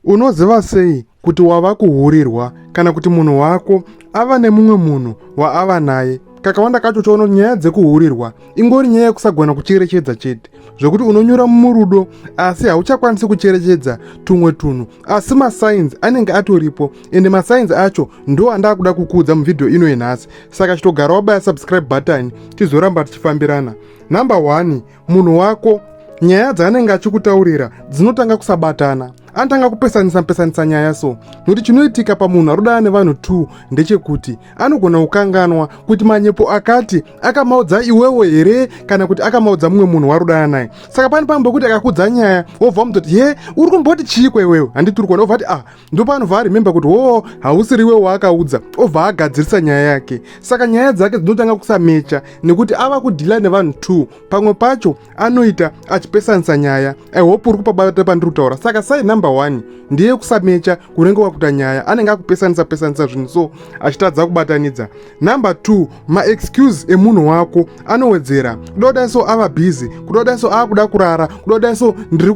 Unoziva sei kuti wava kuhurirwa kana kuti munhu wako ava nemumwe munhu waava naye? Kakawanda kacho choona kuti nyaya dzekuhurirwa ingori nyaya yekusagona kucherechedza chete, zvekuti unonyura murudo asi hauchakwanisi kucherechedza tumwe tunhu, asi masainzi anenge atoripo ende masainzi acho ndo andaa kuda kukuudza muvhidhiyo ino yenhasi. Saka chitogara wabaya subscribe button tizoramba tichifambirana. Number one, munhu wako nyaya dzaanenge achikutaurira dzinotanga kusabatana anotanga kupesanisa pesanisa nyaya so nokuti chinoitika pamunhu arodana nevanhu t ndechekuti anogona kukanganwa kuti manyepo akati akamaudza iwewo here kana kuti akamaudza mumwe munhu warodana naye saka pane pamwe pekuti akakudza nyaya wobva mutoti he uri kumboti chiiko iwewe handiti uri kuona obva ti ah ndopanobva arememba kuti hoo hausiriwe waakaudza obva agadzirisa nyaya yake saka nyaya dzake dzinotanga kusamecha nekuti ava kudhila nevanhu two pamwe pacho anoita achipesanisa nyaya ihope uri kupabata pandiri kutaura saka sai number one ndiye kusamecha kunenge kwakuta nyaya anenge akupesanisa pesanisa zvinhu so achitadza kubatanidza number two maexcuse emunhu wako anowedzera kuda kudai so ava busy kuda kudai so ava kuda kurara kuda kudai so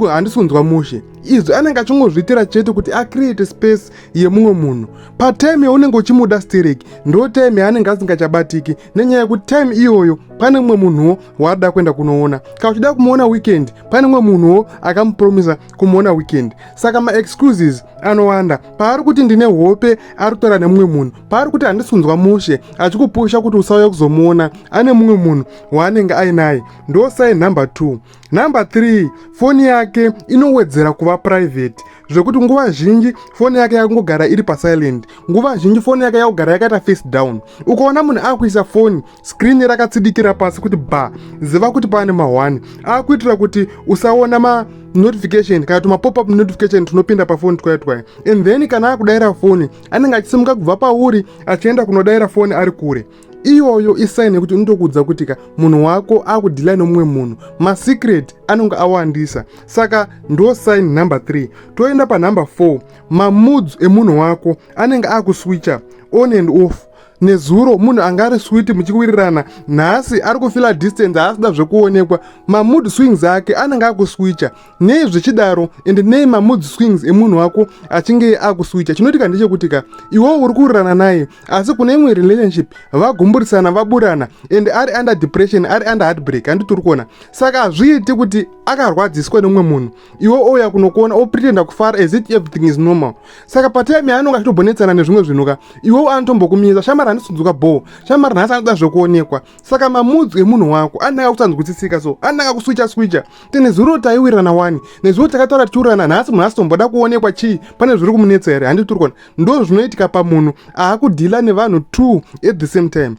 handisi kunzwa mushe izvi anenge achingozviitira chete kuti acreate space yemumwe munhu patime yaunenge uchimuda sterek ndo time yaanenge asingachabatiki nenyaya yekuti time iyoyo pane mumwe munhuwo waada kuenda kunoona kana uchida kumuona weekend pane mumwe munhuwo akamupromisa kumuona weekend saka maexcuses anowanda paari kuti ndine hope ari kutaura nemumwe munhu paari kuti handisi kunzwa mushe achikupusha kuti usauya kuzomuona ane mumwe munhu waanenge ainaye ndo sign number two Number 3 foni yake inowedzera kuva private zvekuti nguva zhinji foni yake yakungogara iri pasilent nguva zhinji foni yake yakugara yakaita face down ukaona munhu akuisa foni screen rakatsidikira pasi kuti ba ziva kuti pane mahwani akuitira kuti usaona ma notification kana tuma pop up notification tunopinda pafoni twaya twaya and then kana akudaira foni anenge achisimuka kubva pauri achienda kunodaira foni ari kure iyoyo isaini yekuti unotokuudza kuti ka munhu wako akudhilai nomumwe munhu masecret anonge awandisa saka ndo saini number 3 toenda panumber 4 mamoods emunhu wako anenge akuswicha on and off nezuro munhu anga ari switi muchikuwirirana nhasi ari kufila distance haasida zvekuonekwa mamood swings ake anenge akuswicha nei zvichidaro and nei mamood swings emunhu wako achinge akuswicha chinoitika ndechekuti ka iwewo uri kurirana naye asi kune imwe relationship vagumburisana vaburana and ari under depression ari under heartbreak handiti uri kuona saka hazviiti kuti akarwadziswa neumwe munhu iwe ouya kunokuona opretenda kufara as it everything is normal saka patime yaanonge achitobonetsana nezvimwe zvinhu ka iwewo anotombokumiza shamari handisundzuka bhoo shamari nhasi anoda zvekuonekwa saka mamudzwi emunhu wako ananga kusanzwisisika so ananga kuswicha swicha ti nezuro taiwirirana wani nezuro takataura tichiwirirana nhasi munhu asitomboda kuonekwa chii pane zviri kumunetsa here handi turi kuona ndo zvinoitika pamunhu aakudhila nevanhu two at the same time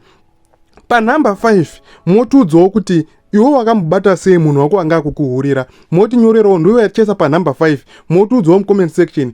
panhamba five motiudzawo kuti iwe wakamubata sei munhu wako anga akukuhurira motinyorerawo ndiwe yatichaisa panhamba 5 motiudzawo mucomment section